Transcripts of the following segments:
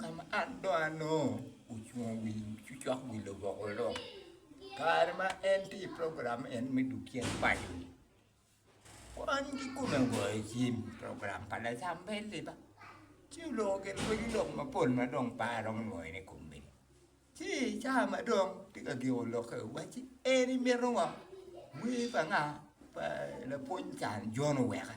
Ka ma an dong anongo ocung wi cucok wi luboko lok, kare ma en tye i program en me dog cen paco-ni, kwan kikome ogoyo cim i program pa Lacambel-li ba, ci oloko gin pwony lok mapol ma dong pe aromo nwoyone i kom mego. Ci i caa ma dong tye ka giko lokke owacci, En imito ngo? Wer pa nga? Pa lapwony Can Jon oweka.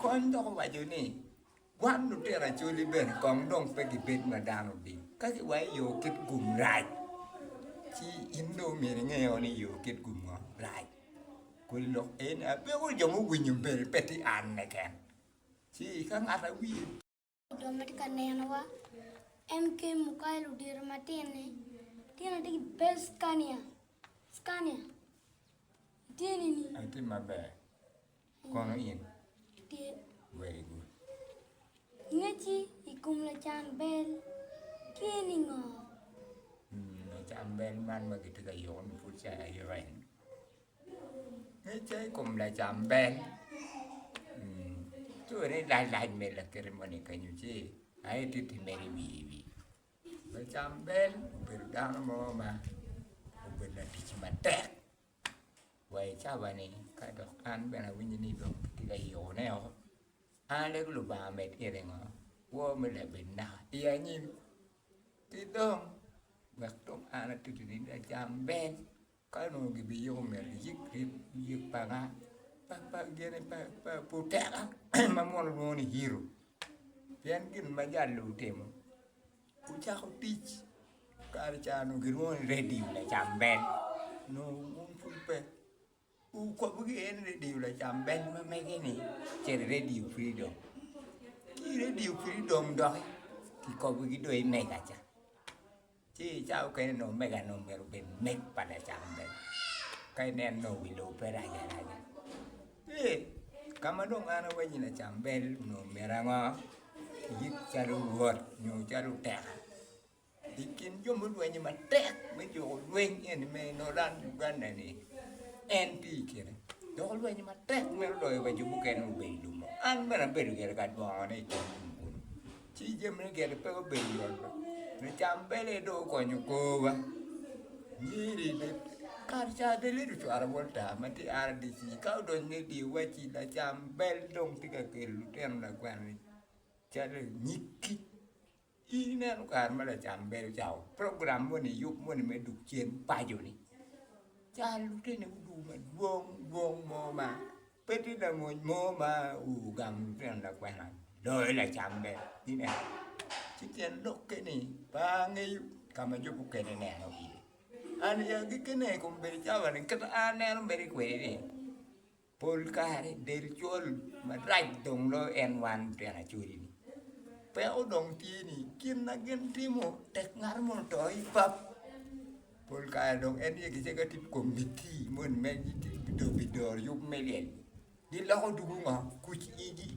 Kony dok owaco ni, Gwam lutino acoli bene kong dong pe gibed ma dano odic. Ka giwaco ni yo kit gum rac, ci in dong myero inge o ni yo kit gum ngo rac. Kodi lok aye ni, Abyeko jo mowinyo bene pe tye an keken, ci ka ngat awic. Dong ma tye ka nenowa, MK Mukai ludito matine, tyen ati ki bel Scania, Scania, itye nini? Atye maber, kono in? Atye. Very good. Ngeci i kom lacan bel tye ni ngo? Lacan bel man ma gitye ka yuko-ni pud ca aye reny. Pe ce i kom lacamber ci wene i lalac me lakite moni kenyo ci ma ititi mere i wiye wiye lacamber obedo dano mo ma obedo latic matek wa i cabane ka dok an bene awinyo ni dong kitye ka yikone o an lego Lubanga omed gire ngo kwo me labit naka i anyim ki dong wek dong an atitidi lacamber. Ka onongo gibiyiko myero giyik ryeb yek panga pa gene pa puteka ma mono lwongo ni hero pien gin ma jal ni otimo ocako tic kare ca onongo gilwongo ni radio lacambel onongo wun pud pe okobo gi en radio lacambel ma mege ni ce radio freedom ki radio freedom doki kikobo gi dong i mega ca. Ci i cawa mukene nongo mega nongo myero obed meg pa lacam bene. Ka ineno nongo wi lobo pe rac araca. Ee, ka ma dong an awanyi lacam bel onongo myero ango? Ayik calo rwot nyo calo oteka i kin jo mulwenyo matek me juko lweny eni me Nolan Uganda-ni, en tye i kine. Dok olwenyo matek twero loyo wa jo mukene ma obedo i lubbe. An bene abedo gire ka dwongone i kom lum kunu. Ci jami ni gire pe gubedo yot be, lucam bene dong okonyo korwa, nyiri bene kare ca bene ledo ocwalo bot taa ma tye RDC ka odonyo ni dye waci lacam bel dong tye ka kelo lutino lakwena-ni calo nyig kic, in ineno kare ma lacam bel ocako program moni yub moni me duk cen paco-ni, caro lutini guduwu madwong dwong mo ma Pe tye lamony mo ma ogamo lutino lakwena loyo lacam bene. Pi ne, ci tyen lokke ni pe angeyo ka ma jo mukene neno iye. An i agikkine i kom bedo cawa ni kit ma an aneno mere kwede ni pol kare del col marac dong loyo en wan lutino acoli-ni. Peko dong tye ni kin ma gin timo tek ngat moni oto i pap. Pol kare dong en aye kicego atir kom miti moni me dong pi doro yub me lyel. Giloko dugu ngo? Kuc igi.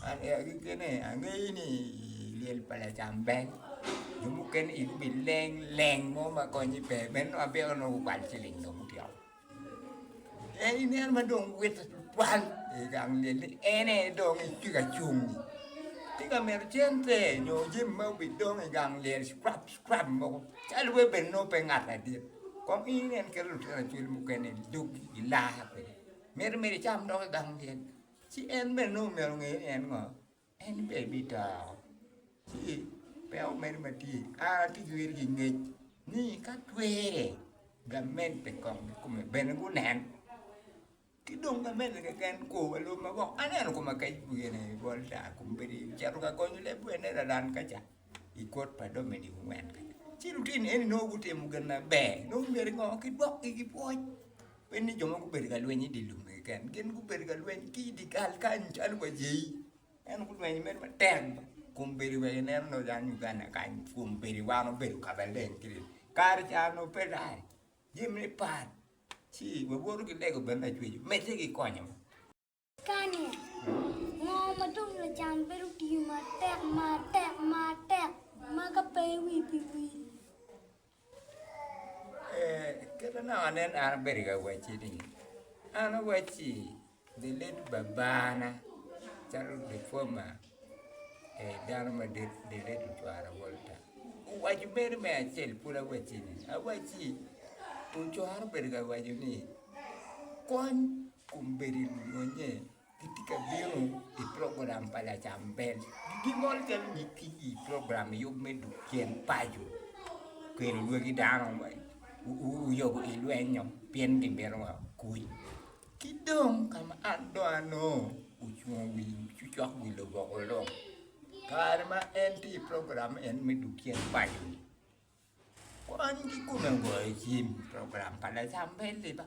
An ee agikki ni angeyo ni ii lyel pa Lacambel jo mukene igi obileng leng mo ma konye pe, meno abyeko nongo gukwal ciling dong gutyeko. En nen ma dong witte tutwal i gang myel ni en aye dong tye ka cung-nyi, tye ka mito cente nyo jami ma bidong i gang myel cwap cwap mogo calo wai bed nongo pe ngat ladit kong in nen kit lutino acwal mukene i doggi i laa kwede miti miti icam dok i gang myel ci en bene nongo myero onge ni en ngo. En pe ebitao, ci pe omedo matye, a ki jwer ki ngec ni ka twere gamen pe kong ki kome bene gunen, ki dong gamen-ni keken ko wa lub ma gwok aneno koma kec i bwii eni bol ta kom bedi cito ka konyo leb wene lalan ka ca i kot pa Dominic Ongwen kany, ci lutino eni nongo gutimo gin maber nongo myero i ngo ki gwokgi ki pwoc. Pud ni jo ma gubedo ka lweny i dye lum keken, gin gubedo ka lweny ki i dye kal kany calo wa jei. En gulwenyo mere matek kun bedo wek ineno ni odong Uganda kany kun bedo wan obedo ka maleng kiri. Kare ca onongo pe rac, jami ne pat, ci wawoto ki lego bene lacwec omedde ki konyowa. Kanye? Ngo ma dong lacam bedo tiyo matek matek matek ma ka pe iwir pi wil? Ee, kit ma nongo anen an abedo ka wacci ni, an awacci the late babana calo the former dano madit the late Lutwara Walter owaco mere me acel pud awacci ni, awacci ocwara obedo ka waco ni kony. Kombeddi lunyonya gitye ka bino i program pa lacam bel. Gingolo calo nyig kic i program i yub me duk cen paco. Kelo lwagi dano oyobo i lwenyo pien gimito wa kuc. Ki dong ka ma an dong anongo ocung i wi cokcok wi luboko long, kare ma en tye i program en me duk cen paco-ni. Kony kikome ogoyo cim i program pa lacam pe liba,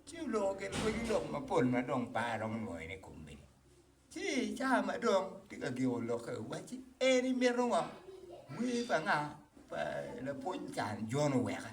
ci oloko gin pwony lok mapol ma dong pe aromo nwoyo ne kom mene. Ci i caa ma dong tye ka giko lokke owacci, En imito ngo? Wer pa nga? Pa lapwony Can Jon oweka.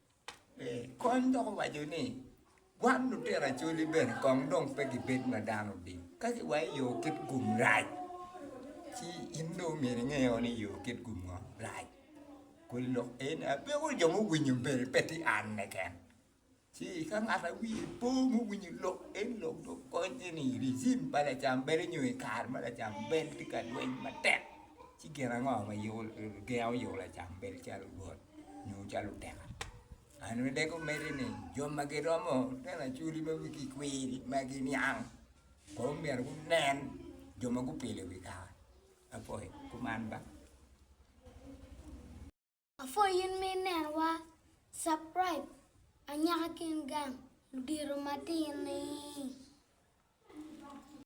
Kony dok owaco ni, Wan lutino acholi bene kong dong pe gibed ma dano odic. Ka giwaco ni yo kit gum rac, ci in dong myero inge o ni yo kit gum ngo rac. Kodi lok aye ni apiko jo muwinyo bene pe tye an keken. Ci ka ngat ma wiye po muwinyo lok eni dong okony en ni rijim pa lacam bedo nyo i kare ma lacam bel tye ka lweny matek ci gin ango ma gengo yo lacam bel calo dwol? nyo calo oteka. An bene dok omedde ni jo ma giromo tyen acwali ma wigi kwir ma giniang kong myero gunen jo ma gupilo i wi kare. Apoi kuman ba. Apoi in ma inenowa, subscribe anyaka kin gang ludito matini.